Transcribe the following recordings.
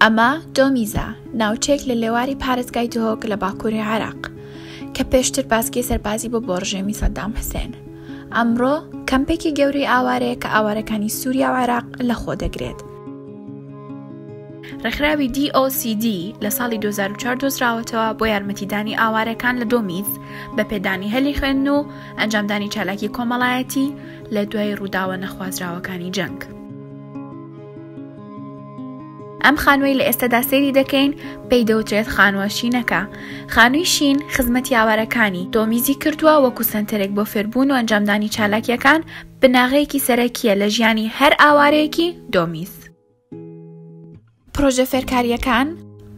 ئەمە دۆمیزە ناوچێک لە لێواری پارێزگای دهۆک لە باکووری عێراق کە پێشتر باسکی سەربازی بۆ بۆڕژێمی سەدام حسێن ئەمڕۆ کەمپێکی گەورەی ئاوارەیە کە ئاوارەکانی سووریا و عێراق لە خۆ دەگرێت ڕێکخراوی DOCD لە ساڵی 2004 دۆزراوەتەوە بۆ یارمەتیدانی ئاوارەکان لە دۆمیز بە پێدانی هەلی خوێن و ئەنجامدانی چالاکی کۆمەڵایەتی لە دوای ڕووداوە نەخوازراوەکانی جەنگ. ئەم خانووی لە ئێستەدا سێری دەکەین پێی دەوترێت خانووە شینەکە خانووی شین خزمەتی ئاوارەکانی تۆمیزی کردووە وەکو سنتەرێک بۆ فێربوون و ئەنجامدانی چالاکیەکان بناغەیەکی سەرەکیە لە ژیانی هەر ئاوارەیەکی دۆمیز. پرۆژە فێرکارییەکان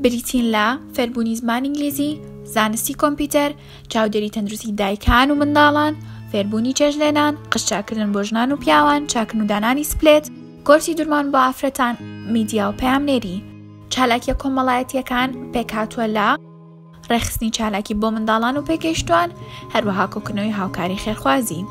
بریتین لە فێربوونی زمان ئینگلیزی، زانستی کۆمپیوتەر، چاودێری تەندروستی دایکان و منداڵان، فێربوونی چێژلێنان، قشچاکردن بۆ ژنان و پیاوان، چاکن و دانانی سپلێت، کۆرسی درمان بۆ ئافرەتان، میدیا و پەیامنێری. چالاکیە کۆمەڵایەتیەکان پێکهاتووە لە. ڕێکخستنی چالاکی بۆ منداڵان و پێکێشتوان هەروەها کۆکنەوەی هاوکاری خێرخوازی.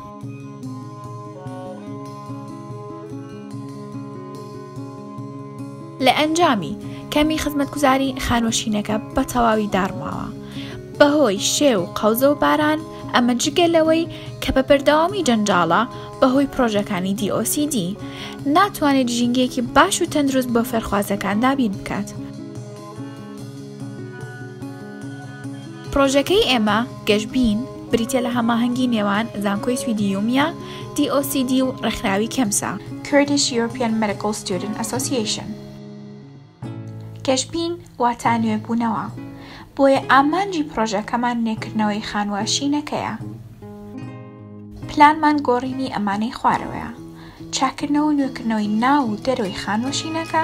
لە ئەنجامی کەمی خزمەتگوزاری خانوەشینەکە بە تەواوی داڕماوە بەهۆی شێ و قەوزە و باران ئەمە جگە لەوەی کە بە بەردەوامی جەنجاڵە بەهۆی پرۆژەکانی دیۆCD ناتوانێت ژینگەیەکی باش و تەندروست بۆ فێرخوازەکان دابین بکات. پڕۆژەکەی ئێمە، گەشبین، بریتیە لە هەماهەنگی نێوان زانکۆی سویدی یومیا، DOCD، و ڕێکخراوی کێمسا، Kurdish European Medical Student Association، گەشبین واتا نوێبوونەوە، بۆیە ئامانجی پڕۆژەکەمان نوێکردنەوەی خانووە شینەکەیە. پلانمان گۆڕینی ئەمانەی خوارەوەیە. چاککردنەوە و نوێکردنەوەی ناو و دەرەوەی خانوەشینەکە،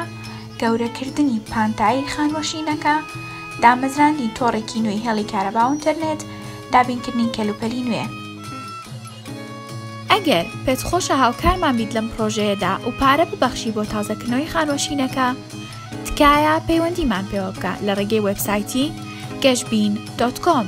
گەورەکردنی پانتایی خانوەشینەکە، دامەزراندنی تۆڕێکی نوێی هێڵی کارەبا و ئینتەرنێت، دابینکردنی کەلوپەلی نوێ. ئەگەر پێت خۆشە هاوکارمان بیت لەم پڕۆژەیەدا و پارە ببەخشی بۆ تازەکردنەوەی خانوەشینەکە، تکایە پەیوەندیمان پێوە بکە لە ڕێگەی وێبسایتی، گەشبین، دۆت کۆم.